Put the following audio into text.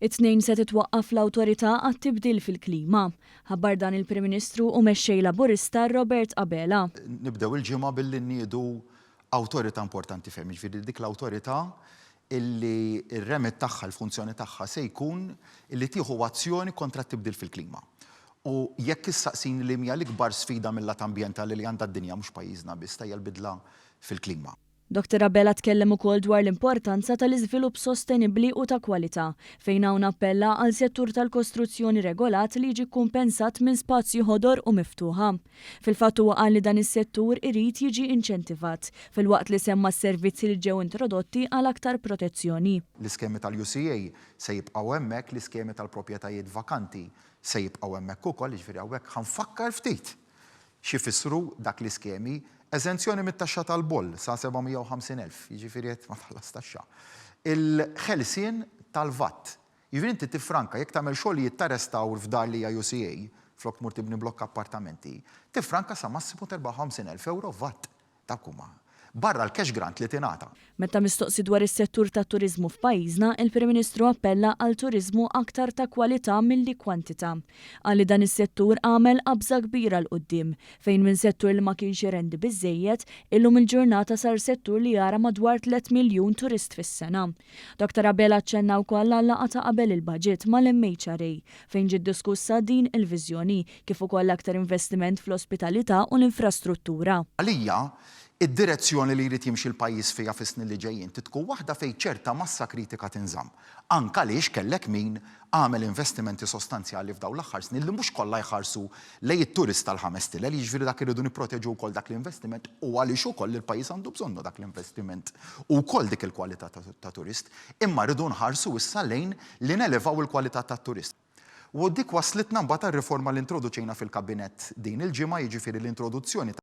It-Tnejn se titwaqqaf l-Awtorità għat-Tibdil fil-Klima. Ħabbar dan il-Prim Ministru u Mexxej Laburista Robert Abela. Nibdew il-ġimgħa billi nniedu awtorità importanti ferm, jiġifieri dik l-awtorità illi r-remit tagħha, il-funzjoni tagħha se jkun illi tieħu azzjoni kontra t-tibdil fil-klima. U jekk issaqsini li mhija l-ikbar sfida mil-lat ambjentali li għandha d-dinja, mhux pajjiżna biss, ta' hija l-bidla fil-klima. Doctor Abela tkellem ukoll dwar l-importanza tal-iżvilupp sostenibbli u ta' kwalità, fejn hawn appella għal settur tal-kostruzzjoni regolat li jiġi kkumpensat minn spazji ħodor u miftuħa. Fil-fatt huwa qal li dan is-settur irid jiġi inċentivat, filwaqt li semma s-servizzi li ġew introdotti għal aktar protezzjoni. L-iskemi tal-UCA se jibqgħu hemmhekk, l-iskemi tal-propjetajiet vakanti se jibqgħu hemmhekk ukoll, jiġifieri hawnhekk ħa nfakkar ftit, X'ifissru dak l-iskemi? Eżenzjoni mit-taxxa tal-boll sa 750 elf, jiġifieri qed ma tħallas taxxa. Il-ħelsien tal-VAT. Jiġifieri inti tiffranka jekk tagħmel xogħlijiet ta' restawr f'dar li hija UCA, flok tmur tibni blokk appartamenti, tiffranka sa massimu ta' 54 elf ewro VAT. ta' Kuma, barra l-cash grant li tingħata. Meta mistoqsi dwar is-settur tat-turiżmu f'pajjiżna, il-Prim Ministru appella għal turiżmu aktar ta' kwalità milli kwantità. Qal li dan is-settur għamel qabża kbira 'l quddiem, fejn minn settur li ma kienx irendi biżżejjed, illum il-ġurnata sar settur li jara madwar tliet miljun turist fis-sena. Doctor Abela aċċenna wkoll għal-laqgħa ta' qabel il-Baġit mal-MHRA fejn ġiet diskussa din il-viżjoni kif ukoll aktar investiment fl-ospitalità u l-infrastruttura. Għalija, id-direzzjoni li jrid jimxi l-pajjiż fiha fis-snin li ġejjin trid tkun waħda fejn ċerta massa kritika tinżamm. Anke għaliex kellek min għamel investimenti sostanzjali f'dawn l-aħħar snin li mhux kollha jħarsu lejn it-turist tal-ħames stilel, jiġifieri dak irridu nipproteġu wkoll dak l-investiment u għaliex ukoll il-pajjiż għandu bżonnu dak l-investiment u wkoll dik il-kwalità ta' turist, imma rridu nħarsu issa lejn li nelevaw il-kwalità tat-turist. U dik wasslitna mbagħad għar-riforma li introduċejna fil-Kabinett din il-ġimgħa, jiġifieri l-introduzzjoni ta'.